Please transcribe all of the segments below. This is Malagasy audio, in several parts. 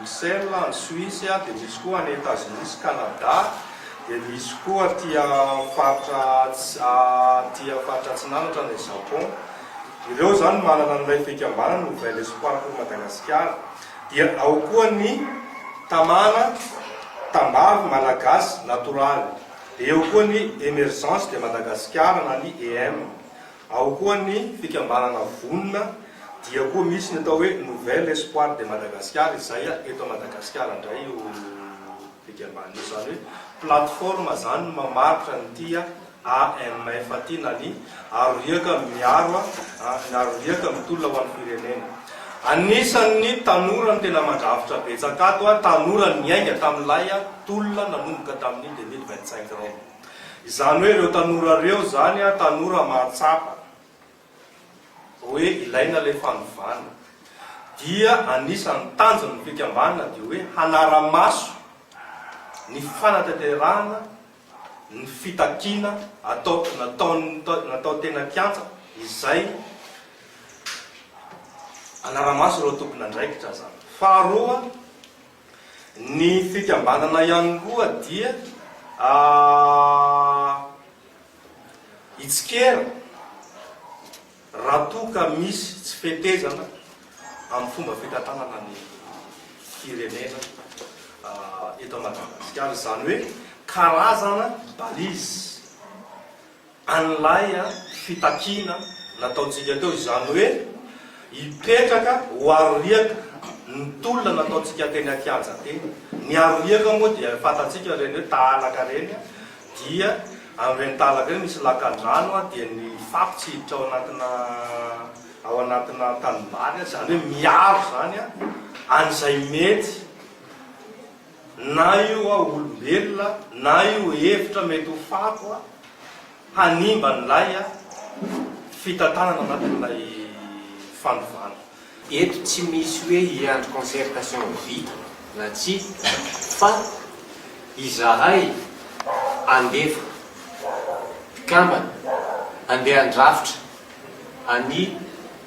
Bruxelles any Suisse, dia misy koa any Etazonia sy Kanada, dia misy koa aty faritra aty faritra atsinanatra any Japon. Ireo izany manana an'ilay fikambanana Nouvel Espoir pour Madagascar. Dia ao koa ny Tamana, Tambavy Malagasy Natoraly. Dia eo koa ny Emergence de Madagascar na ny EM. Ao koa ny fikambanana vonona dia koa misy ny atao hoe Nouvel Espoir de Madagascar izay eto Madagasikara indray io fikambanana io izany hoe plateforme izany mamaritra ny tia AMF ity na ny aro riaka miaro ny aro riaka mitolona ho an'ny firenena. Anisan'ny tanora no tena mandrafitra betsaka ato, tanora niainga tamin'ilay tolona nanomboka tamin'ny deux mille vingt-cinq ireo. Izany hoe ireo tanora ireo izany tanora mahatsapa hoe ilaina ilay fanovana dia anisan'ny tanjon'ny fikambanana dia hoe hanara-maso ny fanatanterahana ny fitakiana atao natao teny an-kianja izay hanara-maso ireo tompon'andraikitra izany. Faharoa. Ny fikambanana ihany koa dia hitsikera raha toa ka misy tsy fetezana amin'ny fomba fitantanana ny firenena eto Madagasikara, izany hoe karazana balise. an'ilay fitakiana nataontsika teo, izany hoe hipetraka ho aro riaka ny tolona nataontsika teny an-kianja teny. Ny aro riaka moa dia fantatsika ireny hoe tahalaka ireny, dia amin'ireny tahalaka ireny misy lakan-drano dia ny fako tsy hiditra ao anatina ao anatina tanimbary, izany hoe miaro izany an'izay mety Na io hoa olombelona na io hevitra mety ho fako hanimba an'ilay fitantanana anatin'ilay fandovana. Eto tsy misy hoe hiandry concertation ho vita na tsia fa izahay handefa mpikambana handeha handrafitra an'i.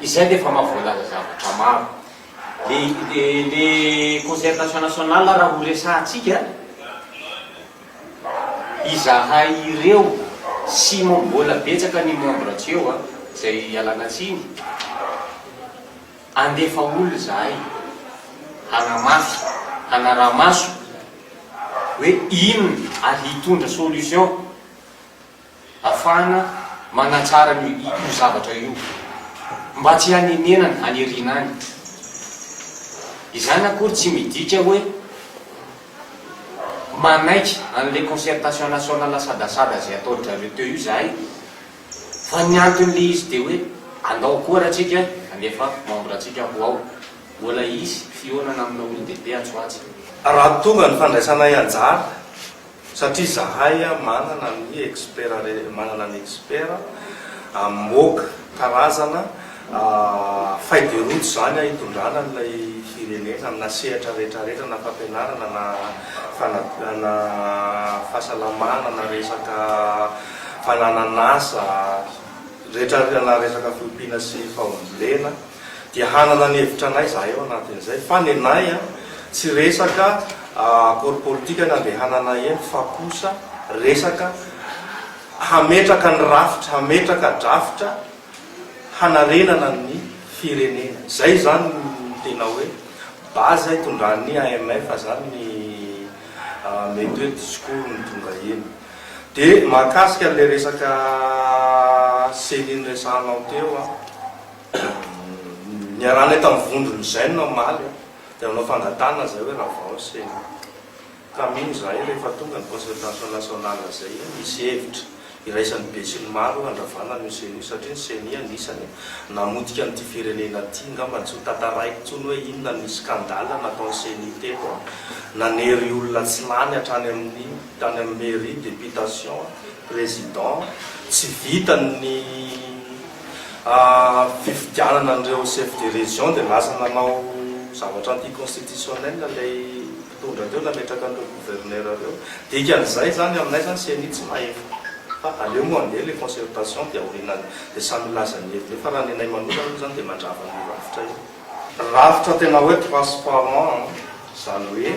Izay dia efa maha voalaza zavatra maro. Le le le concertation nationale raha ho resahantsika, izahay ireo sy mbola betsaka ny membre tsy eo izay ialana tsiny, andefa olona izahay hanamafy, hanaraha-maso hoe inona ary hitondra solution. Afahana manatsara an'io io zavatra io mba tsy hanenenana any aoriana any. Izany akory tsy midika hoe manaiky an'ilay concertation nationale asadasada izay ataon-dry zareo teo io izahay fa ny anton'ilay izy dia hoe andao koa raha tsika handefa membre antsika ho ao. Mbola hisy fihaonana amina olon-dehibe atsy ho atsy. Raha tonga ny fandraisanay anjara Satria zahay manana ny expert re, manana ny expert amoaka karazana feuille de route zany hitondrana an'ilay firenena amina sehatra rehetra rehetra na fampianarana na fanavia na fahasalamana na resaka fananan'asa rehetra na resaka fiompiana sy fahombiana. Dia hanana ny hevitra anay izahay ao anatin'izay fa nenay a, tsy resaka akôro politika no andehananay eny fa kosa resaka hametraka ny rafitra, hametraka drafitra hanarenana ny firenena. Izay izany no tena hoe base itondran'ny AMF izany ny mety hoe discours-ny tonga eny. Dia mahakasika an'ilay resaka ceni noresahanao teo a. Niarahanay tamin'ny vondron'ny Zen omaly aho, dia nanao fangatahana izahay hoe raha vao sy tamin izahay rehefa tonga ny concertation nationale izay hisy hevitra iraisan'ny besinimaro hoe handravana an'io Ceni io satria ny Ceni anisany namotika an'ity firenena ity, ngamba tsy ho tantaraiko intsony hoe inona ny scandale nataon'ny Ceni teto an, nanery olona tsy lany hatrany amin'ny tany amin'ny mairie, deputation, président, tsy vitan'ny. fifidianana an'ireo chef de région dia lasa nanao zavatra anti constitutionnel ilay mpitondra teo nametraka an'ireo gouverneur ireo, dikan'izay izany aminay izany ceni tsy mahefa fa aleo moa andeha ilay concertation dia aorianan'ny dia samy milaza ny heviny eo fa raha ny anay manokana aloha izany dia mandrava an'io rafitra io. Rafitra tena hoe transparent an, izany hoe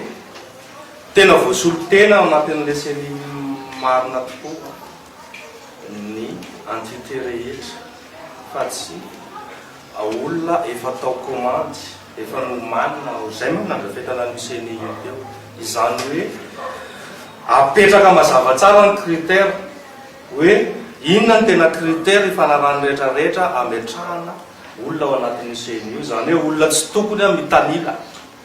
tena voasolontena ao anatin'ilay ceni marina tokoa. ny entité rehetra fa tsy olona efa atao komandy, efa nomanina ao, izay manko no nandrafetana an'io ceni io teo. Izany hoe apetraka mazava tsara ny critère hoe inona no tena critère ifanarahan'ny rehetra rehetra ametrahana olona ao anatin'io ceni io, izany hoe olona tsy tokony mitanila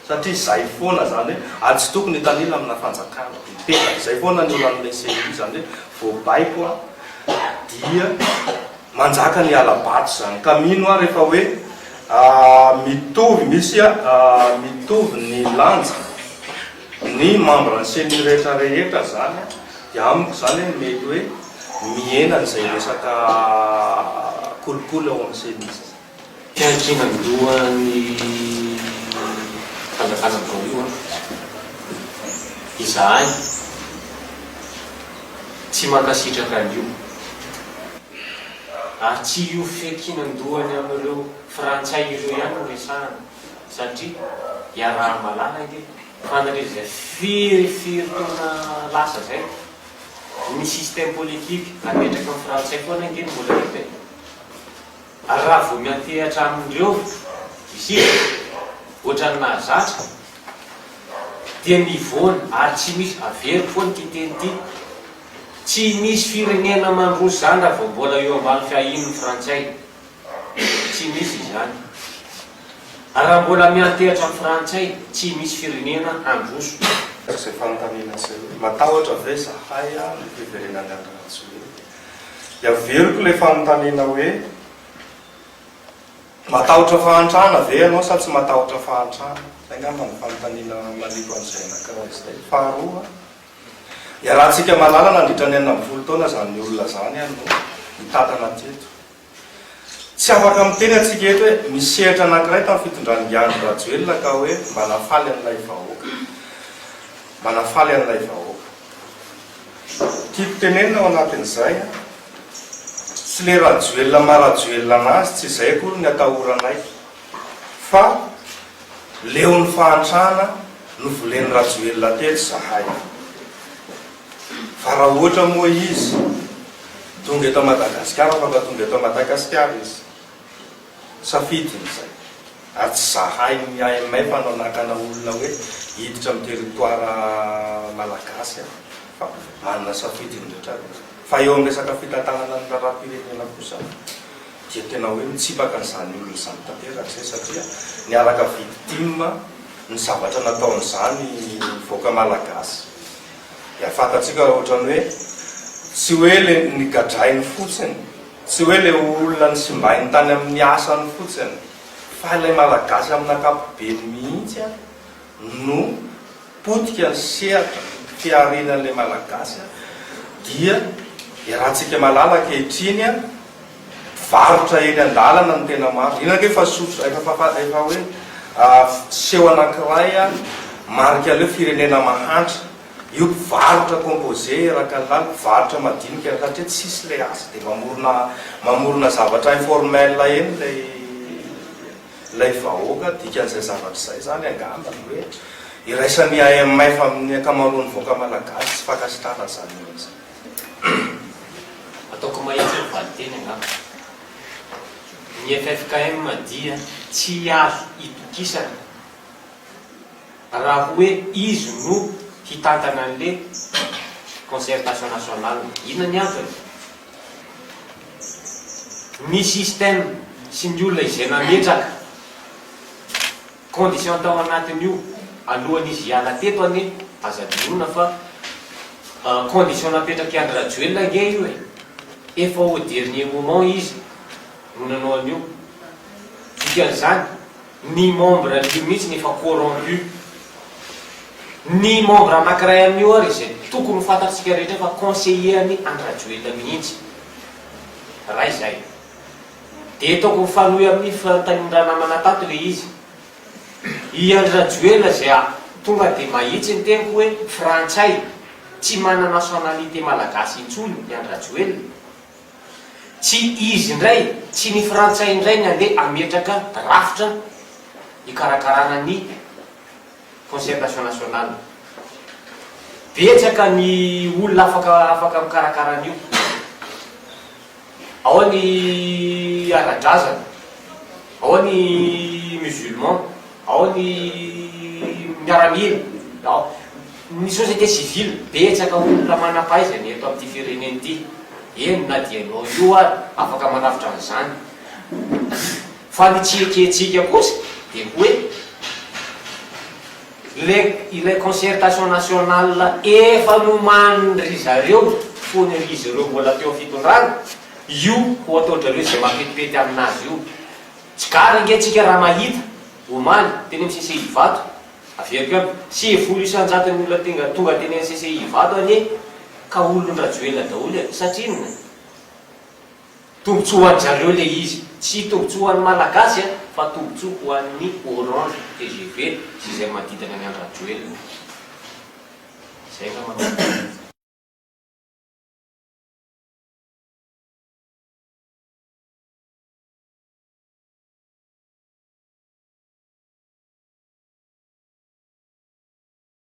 Satria zay foana zany hoe ajotoko ny tanila amina fanjakana dia mipetraka. Zay foana ny olan'ilay CEI izany hoe vao baiko aho dia manjaka ny hala-bato izany. Ka mino aho rehefa hoe mitovy misy mitovy ny lanja ny membran'ny CENI rehetra rehetra zany dia amiko zany hoe mety hoe mihena an'izay resaka kolikoly ao amin'ny CENI. Fiankinan-doha ny fanjakana amin'izao io an! Izahay tsy mankasitraka an'io, ary tsy io fiankinan-dohany amin'ireo frantsay ireo ihany no resahana, satria iaraha-mahalala ity fa nandritra izay firy taona lasa izay, ny système politique apetraky ny frantsay foana ange no mbola hita e! Ary raha vao miantehatra amin'ireo isika, ohatran'ny nahazatra, dia mivoana ary tsy misy, averiko foana ity teny ity, tsy misy firenena mandroso izany raha vao mbola eo ambany fiahian'ny frantsay, tsy misy izany. Ary raha mbola miantehatra amin'ny frantsay, tsy misy firenena handroso. Izay fanontaniana izay hoe, matahotra ve izahay amin'ny fiverenan'i Andry Rajoelina? Dia averiko ilay fanontaniana hoe, matahotra fahantrana ve ianao sa tsy matahotra fahantrana? Izay angamba no fanontaniana maniko an'izay anankiray izay. Faharoa, iarahantsika mahalala nandritra ny enina ambin'ny folo taona izany olona izany no mitantana aty eto. Tsy afaka miteny antsika eto hoe misy sehatra anankiray tamin'ny fitondran'i Ngy Andry Rajoelina ka hoe mba nafaly an'ilay vahoaka. Mba nafaly an'ilay vahoaka. Tiako tenenina ao anatin'izay an! Tsy le Rajoelina maha Rajoelina anazy, tsy izay akory ny atahoranay, fa leon'ny fahantrana novolen'i Rajoelina teto izahay. Fa raha ohatra moa izy tonga eto Madagasikara fa mba tonga eto Madagasikara izy? Safidiny izay. Ary tsy zahain'ny IMF no hanakana olona hoe hiditra amin'ny territoire Malagasy an! Fa manana safidy ny rehetra avy. Fa eo amin'ny resaka fitantanana ny raharaham-pirenena kosa dia tena hoe mitsipaka an'izany olona izany tanteraka izay satria niaraka vidy tim ny zavatra nataon'izany vahoaka Malagasy. Dia fantatsika raha ohatrany hoe tsy hoe le nigadrainy fotsiny, tsy hoe le olona nisimbainy tany amin'ny asany fotsiny fa ilay Malagasy amin'ny ankapobeny mihitsy ary no potika ny sehatra fihariana an'ilay Malagasy dia iarahantsika malala ankehitriny Mpivarotra eny an-dalana no tena maro. Iny ange efa sotrosa, efa fapa, efa hoe seho anankiray marika an'ilay firenena mahantra. Io mpivarotra composé eraky ny làlana, mpivarotra madinika eny, satria tsisy ilay asa dia mamorona, mamorona zavatra informel eny ilay, ilay vahoaka. Dikan'izay zavatra izay izany angamba ny hoe iraisan'ny IMF amin'ny ankamaroan'ny vahoaka malagasy tsy fankasitrahana izany olona izany. Ataoko mahitsy ny valinteny angamba. Ny ffkm dia tsy azo itokisana raha hoe izy no hitantana an'le concertation nationale. Inona ny antony? Ny système sy ny olona izay nametraka. Condition tao anatiny io alohan izy hiala teto anie aza adinoina fa condition napetraky Andry Rajoelina ange io e! Efa au dernier moment izy no nanao an'io. Dikan'izany ny membre an'io mihitsy efa corrompu. Ny membre anakiray amin'io ary izay tokony ho fantatsika rehetra fa conseiller an'i Andry Rajoelina mihitsy. Ray zay. Dia toko mifanohy amin'ny fitahian-dRanamana tato ilay izy. I Andry Rajoelina izay a, tonga dia mahitsy ny teniko hoe frantsay, tsy manana nationalité malagasy intsony i Andry Rajoelina. Tsy izy indray, tsy ny frantsay indray ny handeha hametraka rafitra hikarakarana ny. concertation nationale. Betsaka ny olona afaka afaka mikarakara an'io. Ao ny ara-drazana, ao ny musulman, ao ny miaramila, ao ny société civile. Betsaka olona manam-pahaizana eto amin'ity firenena ity, eny na dia ianao io ary afaka manavotra an'izany. Fa ny tsy ekentsika kosa dia hoe le ilay concertation nationale efa nomanin-dry zareo fony izy ireo mbola teo fitondrana, io ho ataon-drareo izay mapetipety aminazy io. Tsy gara ange tsika raha mahita, omaly, teny amin'ny CCI Ivato, averiko ihany, sivy folo isan-jaton'ny olona tenga tonga teny amin'ny CCI Ivato anie ka olon-dRajoelina daholo e! Satria inona? Tombotsoa ho an-dry zareo ilay izy. Tsy tombotsoa ho an'ny Malagasy an, fa tombotsoa ho an'ny Orange, tgv sy izay manodidina ny an-dRajoelina. Izay angamba no marina.